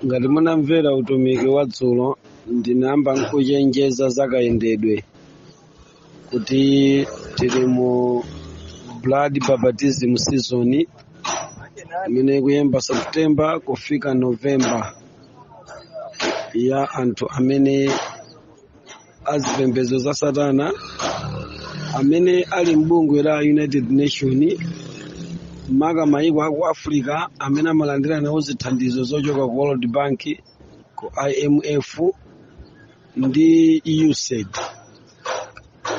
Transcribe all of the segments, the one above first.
ngati munamvera utumiki wa dzulo ndinayamba ndi kuchenjeza za kayendedwe kuti tili mu blood baptism season imene ikuyamba september kufika november ya anthu amene a zipembedzo za satana amene ali m'bungwe la united nation maka mayiko aku africa amene amalandira nawo zithandizo zochoka ku world bank ku imf ndi usaid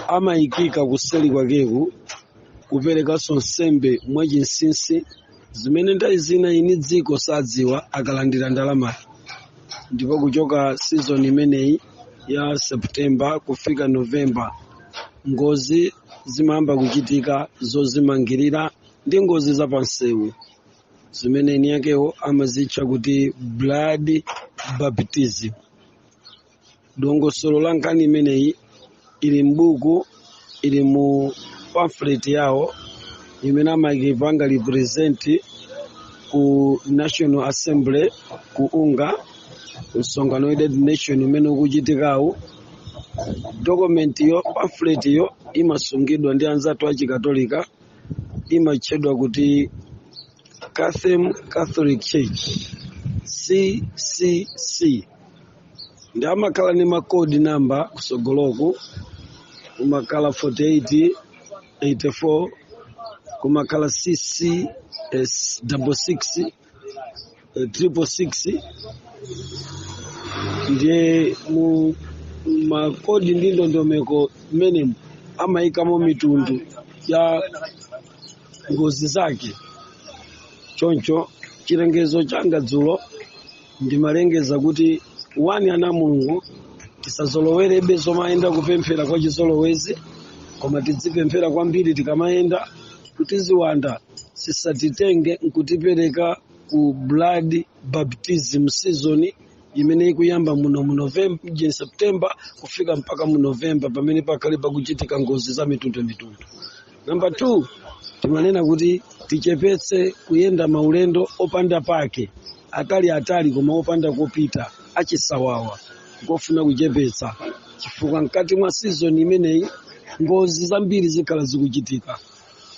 amayikika kuseli kwakeku kuperekanso nsembe mwachinsinsi zimene nthawi zina eni dziko sadziwa akalandira ndalamayi ndipo kuchoka season imeneyi ya September kufika November, ngozi zimayamba kuchitika zozimangirira ndi ngozi za pansewu zimene eni akewo amazitcha kuti blood baptism. Dongosolo la nkhani imeneyi ili m'buku ili mu pamphlet yawo imene amakaipanga present ku national assembly ku unga msonkhano wa united nation umene ukuchitikawu document yo pamphlet yo imasungidwa ndi anzathu achikatolika imatchedwa kuti cathem catholic church ccc ndiye amakhala ndi makodi namba kusogoloku kumakhala 48 84 kumakhala double six eh, triple six ndiye mu makodi ndi ndondomeko imene amayikamo mitundu ya ngozi zake choncho chilengezo changa dzulo ndimalengeza kuti wani ana a mulungu tisazolowerebe tikamayenda kupemphera kwa chizolowezi koma tidzipemphera kwambiri tikamayenda kuti ziwanda zisatitenge nkutipereka ku blood baptism season imene ikuyamba muno mu november eh september kufika mpaka mu november pamene pakhale pakuchitika ngozi za mitundu mitundu Namba 2 timanena kuti tichepetse kuyenda maulendo opanda pake atali atali koma opanda kopita achisawawa ngofuna kuchepetsa chifukwa mkati mwa season imeneyi ngozi zambiri zikhala zikuchitika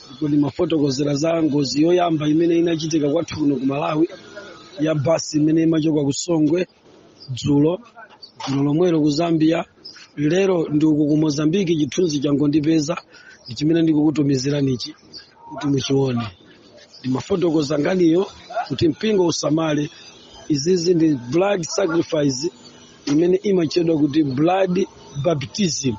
ndipo ndimafotokozera za ngozi yoyamba imene inachitika kwathu kuno ku malawi ya basi imene imachoka ku songwe dzulo dzulo lomwelo ku zambia lero ndi uku ku mozambique chithunzi changondipeza ndi chimene ndikukutumiziranichi kuti muchione ndimafotokoza nkhaniyo kuti mpingo usamale izizi ndi blood sacrifice imene imatchedwa kuti blood baptism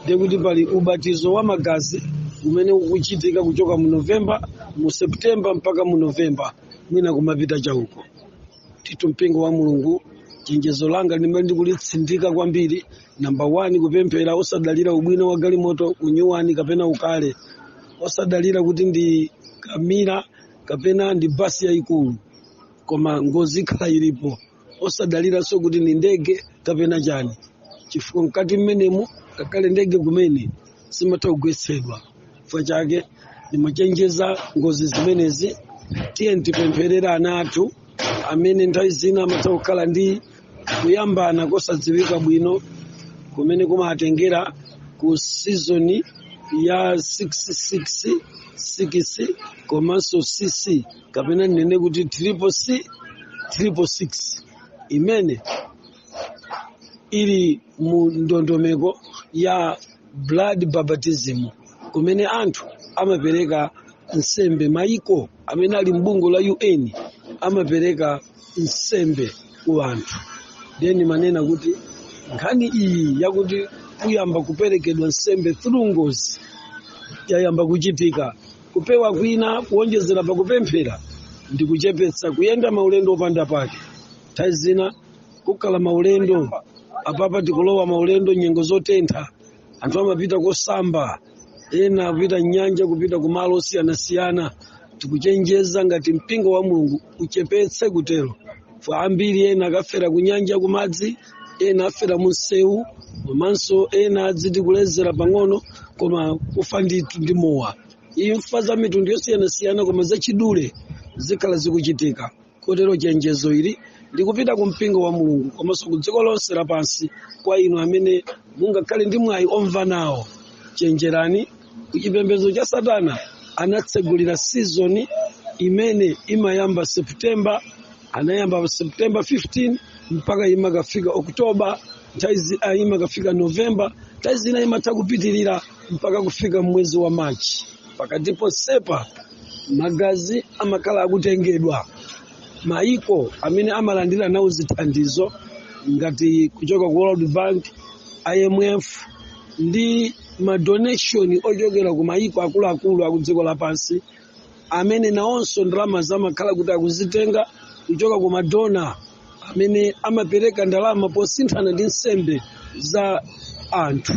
ndiye kuti pali ubatizo wa magazi umene ukuchitika kuchoka mu novemba mu septemba mpaka mu novemba mwina kumapita chauko ndithu mpingo wa mulungu chenjezo langa limene ndikulitsindika kwambiri namba 1 kupemphera osadalira ubwino wa galimoto unyuwani kapena ukale osadalira kuti ndi kamira kapena ndi basi yayikulu koma ngozi ikhala ilipo osadaliranso kuti ndi ndege kapena chani chifukwa mkati mmenemo ngakhale ndege kumene zimatha kugwetsedwa chifukwa chake ndimachenjeza ngozi zimenezi tiyeni tipempherere ana athu amene nthawi zina amatha kukhala ndi kuyambana kosadziwika bwino kumene kumatengera ku sizoni ya 666 komanso cc kapena ndinene kuti triple c triple six imene ili mu ndondomeko ya blood baptism kumene anthu amapereka nsembe maiko amene ali m'bungwe la un amapereka nsembe ku anthu then ndimanena kuti nkhani iyi yakuti kuyamba kuperekedwa nsembe through ngozi yayamba kuchitika kupewa kwina kuonjezera pakupemphera ndi kuchepetsa kuyenda maulendo opanda pake nthawi zina kukhala maulendo apapa tikulowa maulendo nyengo zotentha anthu amapita kosamba ena apita nyanja kupita kumalo osiyanasiyana tikuchenjeza ngati mpingo wa mulungu uchepetse kutero chifukwa ambiri ena akafera kunyanja kumadzi ena afera munsewu komanso ena adziti kulezera pang'ono koma kufa ndithu ndi mowa imfa za mitundu yosiyanasiyana koma zachidule zikhala zikuchitika kotero chenjezo ili ndikupita ku mpingo wa mulungu komanso ku dziko lonse lapansi kwa inu amene mungakhale ndi mwayi omva nawo chenjerani ku chipembedzo cha satana anatsegulira sizoni imene imayamba september anayamba september 15 mpaka imakafika oktoba nthawi zi- ah, imakafika november nthawi zina imatha kupitirira mpaka kufika mwezi wa machi pakati ponsepa magazi amakhala akutengedwa maiko amene amalandira nawo zithandizo ngati kuchoka ku world bank imf ndi madonation ochokera ku maiko akuluakulu aku dziko lapansi amene nawonso ndalamazo amakhala kuti akuzitenga kuchoka ku madona amene amapereka ndalama posinthana ndi nsembe za anthu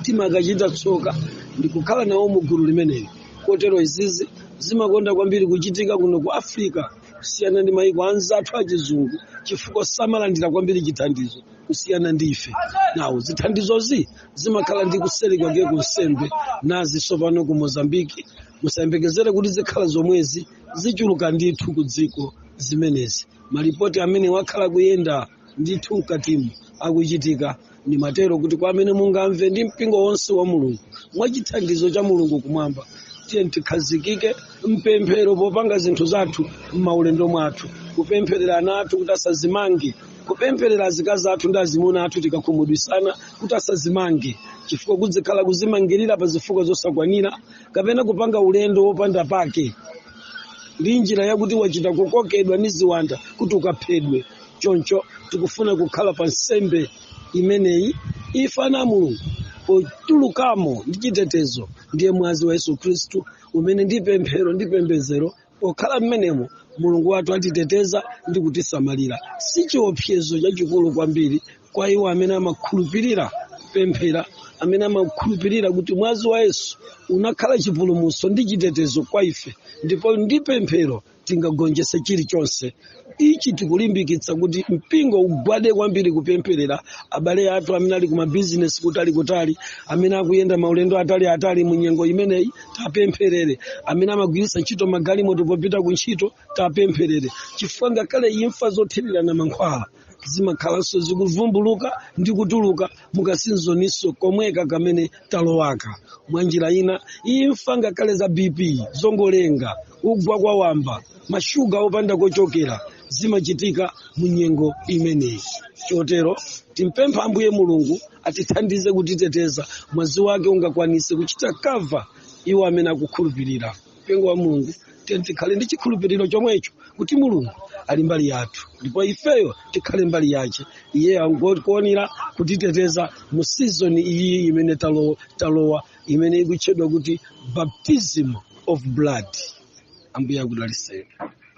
timakachita tsoka ndi kukhala nawo mu gulu limeneli kotero izizi zimakonda kwambiri kuchitika kuno ku afrika kusiyana ndi mayiko anzathu achizungu chifukwa samalandira kwambiri chithandizo kusiyana ndi ife nawo zithandizozi zimakhala ndi kuseri kwake kwa nsembe nazi tsopano ku mozambiki musayembekezere kuti zikhala zomwezi zichuluka ndithu ku dziko zimenezi malipoti amene akhala akuyenda ndithu mkatimu akuchitika nimatero kuti kwa amene mungamve ndi mpingo wonse wa mulungu mwa chithandizo cha mulungu kumwamba tiyeni tikhazikike mpemphero popanga zinthu zathu m'maulendo mwathu kupempherera ana athu kuti asazimange kupempherera azikazi athu ndi azimuna athu tikakhumudwisana kuti asazimange chifukwa kuzikhala kuzimangirira pa zifukwa zosakwanira kapena kupanga ulendo wopanda pake ndi njira yakuti wachita kukokedwa ndi ziwanda kuti ukaphedwe choncho tikufuna kukana nsembe imeneyi ife ana a mulungu potulukamo ndi chitetezo ndiye mwazi wa yesu khristu umene ndi pemphero ndi pembezero pokhala mmenemo mulungu wathu atiteteza ndi kutisamalira si chiopsezo chachikulu kwambiri kwa iwo amene amakhulupirira pemphero amene amakhulupirira kuti mwazi wa yesu unakhala chipulumutso ndi chitetezo kwa ife ndipo ndi pemphero tingagonjetse chilichonse ichi tikulimbikitsa kuti mpingo ugwade kwambiri kupempherera abale athu amene ali kumabizinesi kutali kutali amene akuyenda maulendo atali atali mu nyengo imeneyi tiwapempherere amene amagwiritsa ntchito magalimoto popita ku ntchito tiwapempherere chifukwa ngakhale imfa zothirirana mankhwala zimakhalanso zikuvumbuluka ndi kutuluka mukasizoninso komweka kamene talowaka mwa njira ina imfa ngakhale za bp zongolenga kugwa kwa wamba mashuga opanda kochokera zimachitika mu nyengo imeneyi chotero timpempha ambuye mulungu atithandize kutiteteza mwazi wake ungakwanise kuchita kava iwo amene akukhulupirira mpingo wa mulungu tiyeni tikhale ndi chikhulupiriro chomwecho kuti mulungu ali mbali yathu ndipo ifeyo tikhale mbali yace iye angokuonera kutiteteza mu sizoni iyi imene talowa imene ikutchedwa kuti baptism of blood ambuye akudalitseni